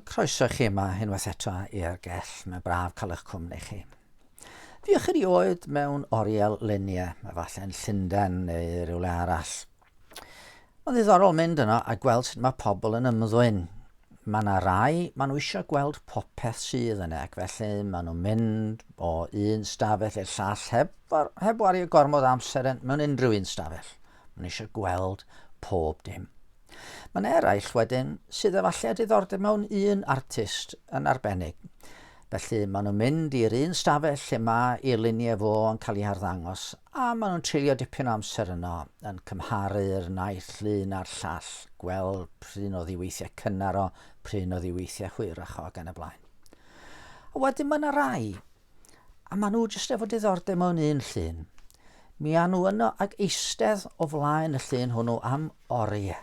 Croeso chi yma unwaith eto i'r gell. Mae'n braf cael eich cwmni chi. Fiwch chi oed mewn oriel lunie, efallai'n Llundain neu rhywle arall. Mae'n ddiddorol mynd yno a gweld sut mae pobl yn ymddwyn. Mae yna rai, maen nhw eisiau gweld popeth sydd yna, ac felly maen nhw'n mynd o un stafell i'r llall heb, heb wario gormod amser mewn unrhyw un stafell. Maen nhw eisiau gweld pob dim. Mae'n eraill wedyn sydd efallai diddordeb mewn un artist yn arbennig. Felly maen nhw'n mynd i'r un stafell lle mae i luniau fo yn cael ei harddangos a maen nhw'n treulio dipyn o amser yno yn cymharu'r naill lun a'r llall, gweld pryn o ddiweithiau cynnar o, pryn o ddiweithiau hwyrach o ac yn y blaen. A wedyn mae yna rai A maen nhw jyst efo diddordeb mewn un llun. Mi a nhw yno ag eistedd o flaen y llun hwnnw am oriau.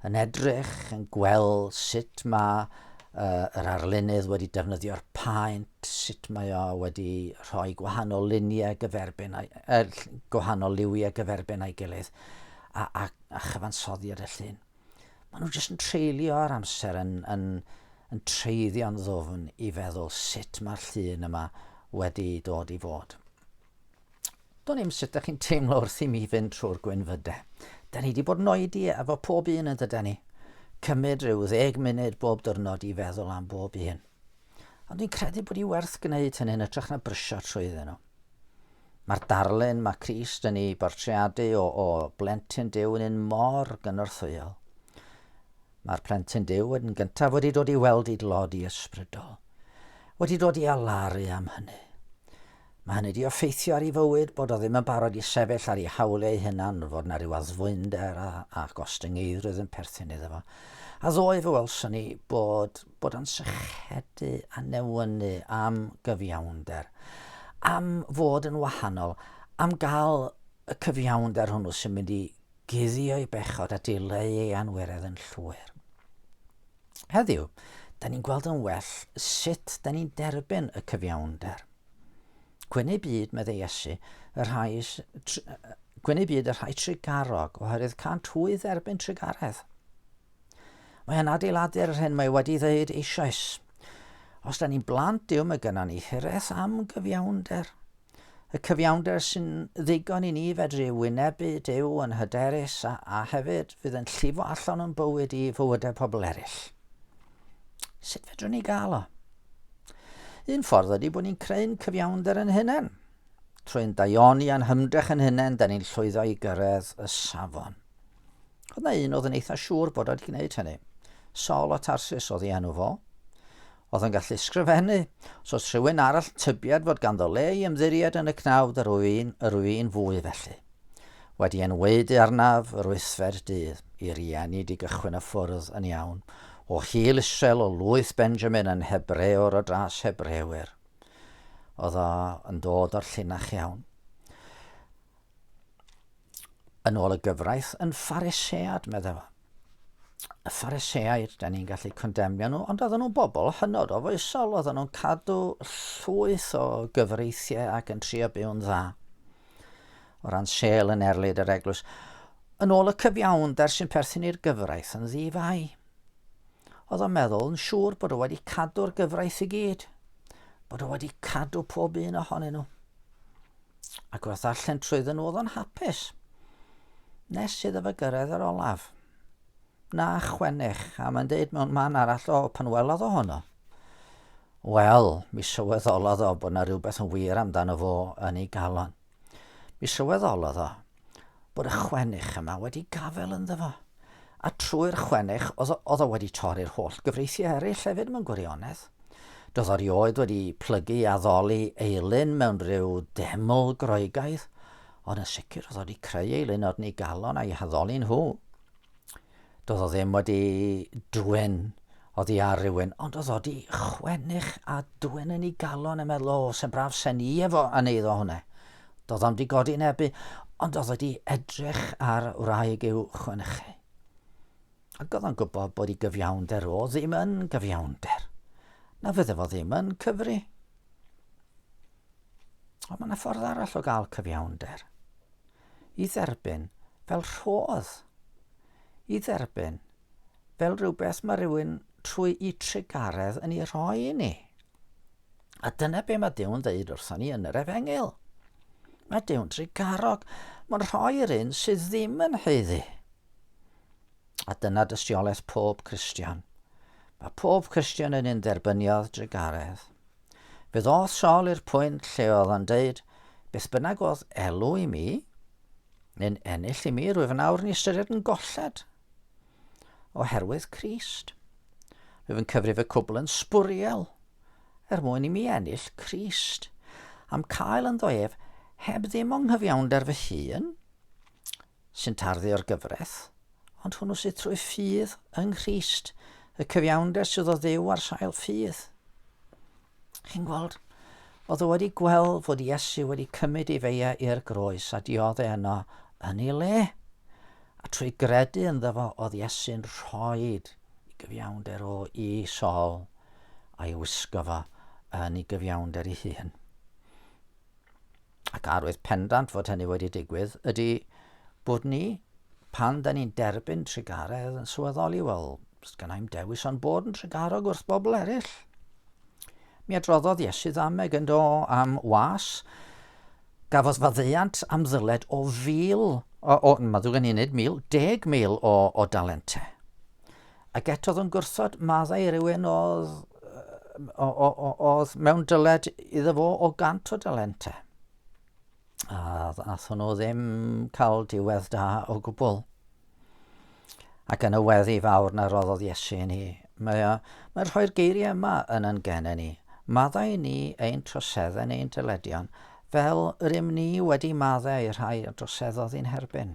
Yn edrych, yn gweld sut mae uh, yr arlunydd wedi defnyddio'r paent, sut mae o wedi rhoi gwahanol luniau gyferbyn, uh, gwahanol liwiau gyferbyn a'i gilydd, a, a, a chyfansoddiad y llun. Maen nhw jyst yn treulio ar amser yn, yn, yn treiddio'n ddwfn i feddwl sut mae'r llun yma wedi dod i fod. Do'n i'm sut ydych chi'n teimlo wrth i mi fynd trwy'r gwynfydau. Da ni wedi bod yn oedi efo pob un yn dyda ni. Cymryd rhyw ddeg munud bob dyrnod i feddwl am bob un. Ond dwi'n credu bod i werth gwneud hynny'n ytrach na brysio trwyddyn nhw. Mae'r darlun mae Crist yn ei bortreadu o, o blentyn Duw yn un mor gynorthwyol. Mae'r plentyn Duw yn gyntaf wedi dod i weld i glodi ysbrydol, wedi dod i alaru am hynny. Mae hynny wedi effeithio ar ei fywyd bod o ddim yn barod i sefyll ar ei hawliau ei hunan, fod yna rhyw addfwynder a, a gostyngeidrwydd yn perthyn iddo fo. A ddoe fe welson ni bod bod yn sychedu a newynu am gyfiawnder, am fod yn wahanol, am gael y cyfiawnder hwnnw sy'n mynd i guddio'i bechod a dileu ei anweredd yn llwyr. Heddiw, da ni'n gweld yn well sut da ni'n derbyn y cyfiawnder. Gwyneu byd, meddai Iesu, y rhai, gwyneu byd y rhai trigarog, oherwydd cant hwy dderbyn trigaredd. Mae yn adeiladu'r yr hyn mae wedi ddeud eisoes. Os da ni'n blant Dyw mae gyda ni hireth am gyfiawnder. Y cyfiawnder sy'n ddigon i ni fedru wynebu Dyw yn hyderus a, a hefyd fydd yn llifo allan o'n bywyd i fywydau pobl eraill. Sut fedrwn ni gael o? Un ffordd ydy bod ni'n creu'n cyfiawnder yn hunain. Trwy'n daioni a'n hymdrech yn hunain, da ni'n llwyddo i gyrraedd y safon. Dyna un oedd yn eitha siŵr bod wedi gwneud hynny. Sol o Tarsus oedd ei enw fo. Oedd yn gallu sgrifennu. Os oedd rhywun arall yn tybied fod ganddo le i ymddiried yn y cnawd yr oedd un, yr oedd un fwy felly. Wedi enweudu arnaf yr wythfed dydd, i rieni di gychwyn y ffwrdd yn iawn, o hil Israel o lwyth Benjamin yn Hebreor o dras Hebrewyr. Oedd o yn dod o'r llinach iawn. yn ôl y gyfraith, yn pharisead, meddai fo. Y phariseaid, da ni'n gallu condemnio nhw, ond oedden nhw'n bobl hynod o foesol, oedden nhw'n cadw llwyth o gyfreithiau ac yn trio byw'n dda. O ran sel yn erlid yr eglwys, yn ôl y cyfiawnder sy'n perthyn i'r gyfraith yn ddifau. Oedd o'n meddwl yn siŵr bod o wedi cadw'r gyfraith i gyd, bod o wedi cadw pob un ohonyn nhw. Ac wrth allan trwydden nhw oedd o'n hapus. Nes iddo fe gyrraedd yr olaf. Na, chwennych, a mae'n deud mewn man arall o pan welodd o honno. Wel, mi sylweddolodd o bod yna rhywbeth yn wir amdano fo yn ei galon. Mi sylweddolodd o bod y chwennych yma wedi gafel ynddo fo. A trwy'r chwennych, oedd, oedd o wedi torri'r holl gyfreithiau eraill hefyd mewn gwirionedd. Doedd o rioed wedi plygu a ddoli eilun mewn rhyw deml groegaidd, ond yn sicr oedd o wedi creu eilun odni galon a'i haddoli nhw. Do'dd o ddim wedi dwyn oddi ar rywun, ond o'dd o 'di chwennych a dwyn yn 'i galon a meddwl, O, se'n braf se'n i efo yn eiddo hwnne. Do'dd o'm 'di godi nebu, ond o'dd o 'di edrych ar wraig i'w chwenchu. Ac o'dd o'n gwybod bod 'i gyfiawnder o ddim yn gyfiawnder. Na fydde fo ddim yn cyfri. Ond mae yna ffordd arall o gael cyfiawnder. i dderbyn fel rhodd, i dderbyn fel rhywbeth mae rhywun trwy i trugaredd yn ei rhoi i ni. A dyna be mae Dew'n ddeud wrthon ni yn yr efengyl. Mae Dew'n trugarog. Mae'n rhoi'r un sydd ddim yn heiddi. A dyna dystiolaeth pob Christian. Mae pob Christian yn un dderbyniodd drugaredd. Fe ddoth Sol i'r pwynt lle oedd o'n deud, Beth bynnag oedd elw i mi, neu'n ennill i mi, rwyf yn awr yn ei ystyried yn golled. Oherwydd Crist. Rwyf yn cyfrif y cwbl yn sbwriel, er mwyn i mi ennill Crist. Am cael ynddo ef, heb ddim o'n nghyfiawnder fy hun, sy'n tarddu'r gyfraith, ond hwnnw sydd trwy ffydd yng Nghrist, y cyfiawnder sydd o ddew ar sail ffydd. Chi'n gweld, oedd o wedi gweld fod Iesu wedi cymryd ei feia i'r groes a diodde yno yn ei le. A trwy gredu ynddo fo oedd Iesu'n rhoi i gyfiawnder o i sol a'i wisgo fo yn ei gyfiawnder ei hun. ac arwydd pendant fod hynny wedi digwydd, ydy bod ni, pan da ni'n derbyn trugaredd yn sylweddoli, wel, gan i'm dewis o'n bod yn trugarog wrth bobl eraill. Mi adroddodd Iesu ddameg yn do am was. Gafodd faddeuant am ddyled o fil, o, o, mae ddwy'n unig mil, deg mil o, o dalentau. Ac eto oedd o'n gwrthod maddau rhywun oedd, oedd mewn dyled iddo fo o gant o dalenta. A ddath hwnnw ddim cael diwedd da o gwbl. Ac yn y weddi fawr na roddodd Iesu i ni, mae, mae rhoi'r geiriau yma yn yn gen ni. Maddau ni ein troseddau neu'n dyledion, fel rym ni wedi maddau i'r rhai a droseddodd i'n herbyn.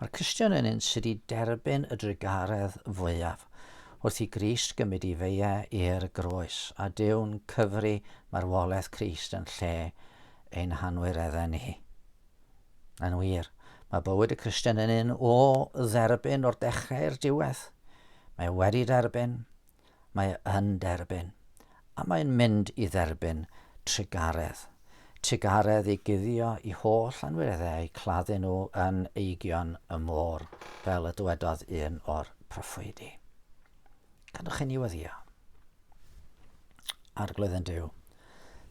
Mae'r Cristion yn un sydd wedi derbyn y drugaredd fwyaf wrth i Grist gymryd i feia i'r groes, a Dyw'n cyfri marwolaeth Crist yn lle ein hanwyreddau ni. Yn wir, mae bywyd y Cristion yn un o dderbyn o'r dechrau i'r diwedd. Mae wedi derbyn, Mae yn derbyn. A mae'n mynd i dderbyn trugaredd. Trugaredd i guddio i holl anwyreddau a'u claddu nhw yn eigion y môr, fel y dywedodd un o'r proffwydi. Gadwch chi ni weddio. Arglwydd yn Dyw,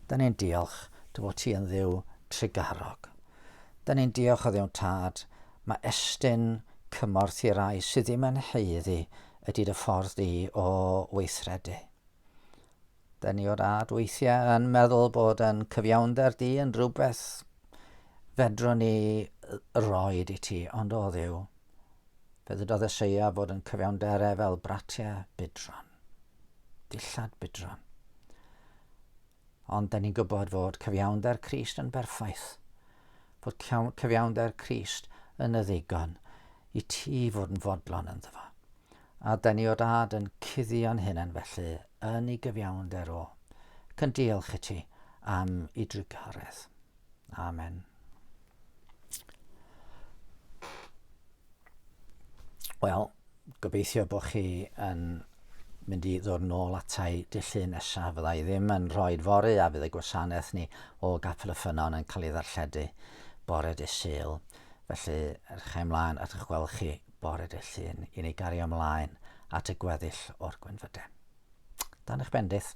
da ni'n diolch dy fod ti yn ddiw trugarog. Da ni'n diolch o ddiw'n tad, mae estyn cymorth i rai sydd ddim yn heiddi ydy dy ffordd di o weithredu. Da ni o dad weithiau yn meddwl bod yn cyfiawnder di yn rhywbeth fedrwn ni roed i ti, ond o ddiw, fe ddydodd Eseia bod yn cyfiawnderau fel bratiau budron, dillad budron. Ond da ni'n gwybod fod cyfiawnder Crist yn berffaith, fod cyfiawnder Crist yn y ddigon i ti fod yn fodlon ynddo fo. A da ni o dad yn cuddio'n hunain felly yn ei gyfiawnder o, ac yn diolch i ti am ei drigoredd. Amen. Wel, gobeithio bod chi yn mynd i ddod nôl atai dillu nesaf. Fydda i ddim yn rhoi fory a fydd y gwasanaeth ni o Gapel y Ffynon yn cael ei ddarlledu bore dy syl. Felly, edrych ymlaen at eich gweld chi bore dy llun i ni gario ymlaen at y gweddill o'r gwynfydau. Dan eich bendith.